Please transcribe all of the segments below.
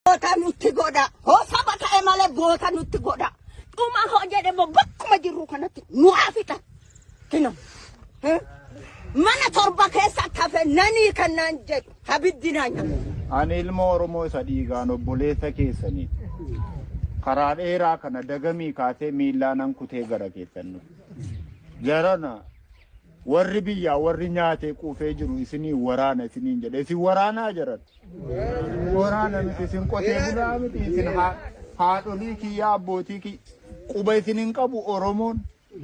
Goota nutti godha. Hoo saba ta'e malee goota nutti godha. Dhuma hoo jedhe immoo bakkuma jirru kanatti nu haa fixan. Kino. Eh? Mana torba keessa akka hafe nanii kannaan jedhu abiddi naa nyaatu. Ani ilma Oromoo isa dhiigaan obboleessa keessanii karaa dheeraa kana dagamii kaasee miillaanan kutee gara keessan dhufe. Jarana Warri biyyaa warri nyaatee quufee jiru isinii waraana isiniin jedhe isin waraanaa jaran waraana miti isin qotee bulaa miti isin haadholii kiyyaa abbootii kiyya quba isin hin qabu oromoon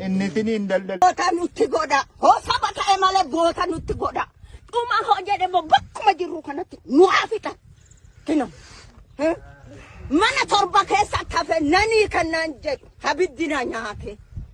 inni isiniin daldala. Goota nutti godha hoo saba ta'e malee goota nutti godha dhuma hoo jedhe immoo bakkuma jirru kanatti nu haa fixan kino mana torba keessa akka fe nanii kennaan jedhu abiddi na nyaate.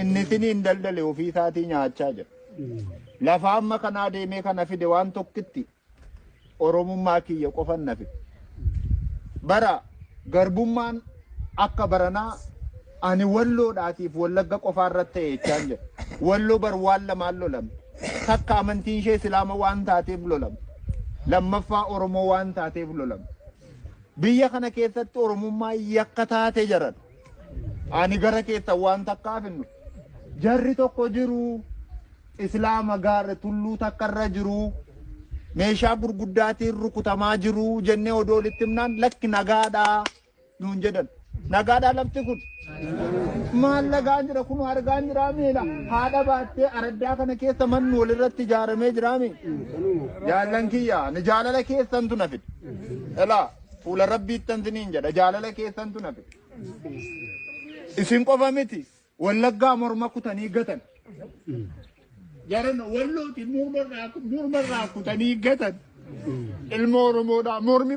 Inni isiniin daldale ofii isaatii nyaachaa jira. Lafa amma kanaa deemee kana fide waan tokkitti Oromummaa kiyya qofan na fide. Bara garbummaan akka baranaa ani walloodhaatiif wallagga qofaa irratti ta'e jechaan jira. Walloo bar waan lamaan lolame. Takka amantiin ishee Islaama waan taateef lolame. Lammaffaa Oromoo waan taateef lolame. Biyya kana keessatti Oromummaa yakka taate jaran. Ani gara keessan waan takkaaf hin dhufu. Jarri tokko jiru islaama gaarra tulluu takka irra jiru meeshaa gurguddaatiin rukutamaa jiru jennee odoo walitti himnaan lakki nagaadhaa nuun jedhan. Nagaadhaa lafti kun maal lagaa jira kun argaa jira miila haadha baattee araddaa kana keessa manni walirratti ijaaramee jira mi jaallan kiyya ni jaalala keessantu na fide elaa fuula rabbiittan siniin jedha jaalala keessantu na fide. Isin qofa miti wallaggaa morma kutanii gatan. Jaran wallooti morma irraa kutanii gatan. Ilmoo Oromoodhaa mormi.